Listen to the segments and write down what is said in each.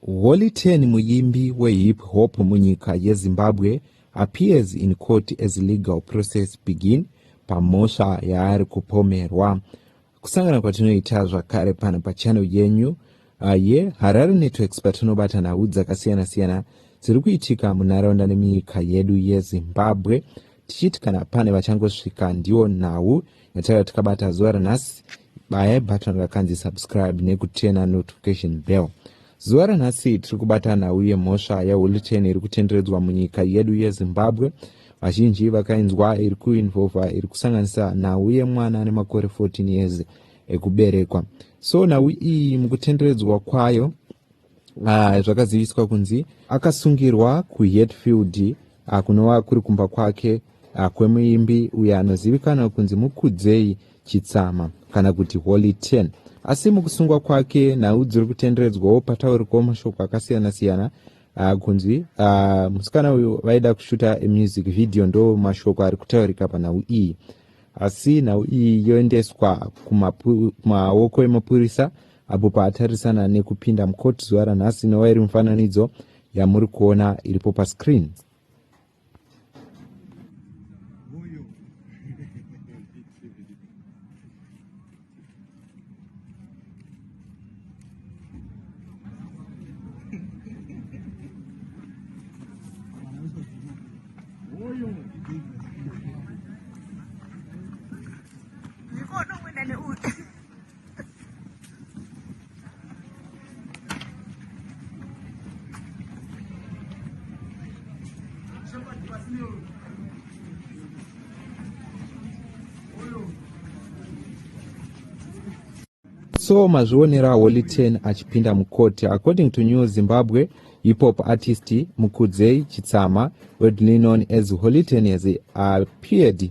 Holy Ten muyimbi wehip hop munyika yeZimbabwe appears in court as legal process begin pamhosva yaari kupomerwa. Kusangana kwatinoita zvakare pano pachannel yenyu uh, yeHarare Networks patinobata nhau dzakasiyana-siyana dziri kuitika munharaunda nemiyika yedu yeZimbabwe. tichiti kana pane vachangosvika ndiwo nhau yataiva tikabata zuva ranhasi baya button rakanzi subscribe nekutena notification bell zuva ranhasi tiri kubata nhau yemhosva yehuliten iri kutenderedzwa munyika yedu yezimbabwe vazhinji vakainzwa iri kuinvolva iri kusanganisa nhau yemwana ane makore 14 years ekuberekwa so nhau iyi mukutenderedzwa kwayo Ah, zvakaziviswa kunzi akasungirwa kuhetfield ah, kunova kuri kumba kwake ah, kwemuimbi uyo anozivikanwa kunzi mukudzei chitsama kana kuti holy 10 asi mukusungwa kwake nhau dziri kutenderedzwawo pataurikwa mashoko akasiyana-siyana ah, kunzi ah, musikana uyu vaida kushuta music video ndo mashoko ari kutaurika panhau iyi asi nhau iyi yoendeswa kumapu- kumaoko emapurisa apo paatarisana nekupinda mucourt zuva ranhasi inova iri mufananidzo yamuri kuona iripo pascreen so mazvionera holy ten achipinda mukoti according to new zimbabwe hipop artist mukudzei chitsama wedlinon as holy ten has appeared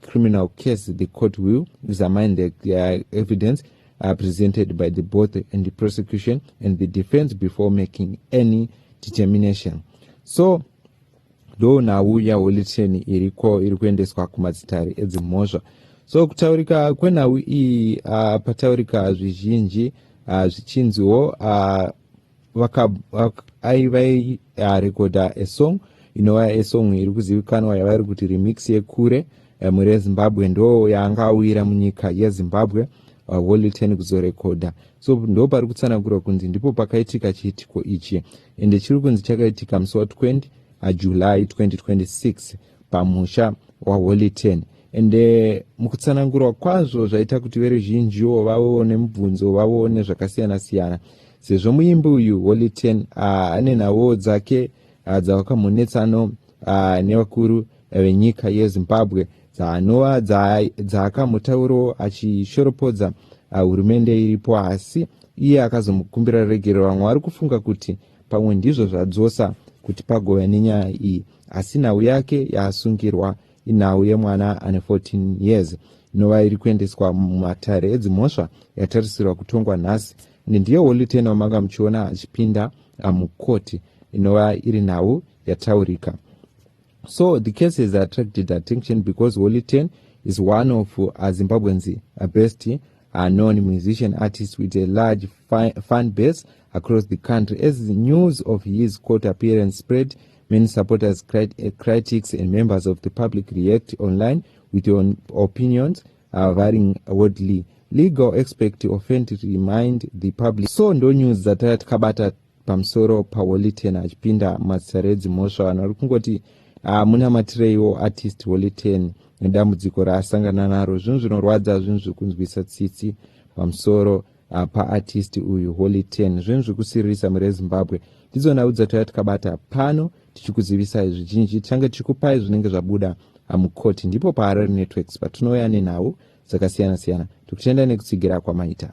criminal case the court will examine the uh, evidence uh, presented by the both and the prosecution and the defense before making any determination so ndo nhau yaholiteni iriko iri kuendeswa kumadzitare edzimhosva so kutaurika kwenhau iyi uh, pataurika zvizhinji uh, zvichinziwo uh, vakarekodha esong inova esong iri kuzivikanwa yavairi kuti remix yekure eh, mhuri yezimbabwe ndo yaanga awira munyika yezimbabwe walliten kuzorekodha so ndo pari kutsanangurwa kunzi ndipo pakaitika chiitiko ichi ende chiri kunzi chakaitika musi wa 20 uh, july 2026 pamusha waHoliton and eh, mukutsanangurwa kwazvo zvaita kuti veruzhinjiwo vavewo nemubvunzo vavewo nezvakasiyana siyana sezvo muimbi uyu Holiten ah, ane nhawo dzake ah, dzavakamonetsano ah, nevakuru venyika yezimbabwe dzaanova dzaakamutaurawo achishoropodza hurumende iripo asi iye akazomukumbira regerero vamwe vari kufunga kuti pamwe ndizvo zvadzosa kuti pagove nenyaya iyi asi nhau yake yaasungirwa inhau yemwana ane 14 years inova iri kuendeswa mumatare edzimhosva yatarisirwa kutongwa nhasi ende ndiyo woliteni wamanga muchiona achipinda ah, mukoti inova iri nhau yataurika so the case has attracted attention because woliten is one of uh, zimbabweans uh, best unknown musician artist with a large fan base Across the country, as news of his court appearance spread, many supporters, crit eh, critics, and members of the public react online with their own opinions uh, varying wordly. Legal expert offend remind the public. So ndo news dzataya tikabata pamusoro paWoliten achipinda mazita redzimhosva vanhu vari kungoti ah, munamatireiwo artist Woliten nedambudziko raasangana naro. Zvinhu zvinorwadza zvinhu zvekunzwisa tsitsi pamusoro apa artist uyu holy 10 zvinhu zvikusiririsa mhuri yezimbabwe ndidzo nhau dzatouya tikabata pano tichikuzivisai zvizhinji tichange tichikupai zvinenge zvabuda hamukoti ndipo paharare networks patinouya nenhau dzakasiyana-siyana tikutendai nekutsigira kwamaita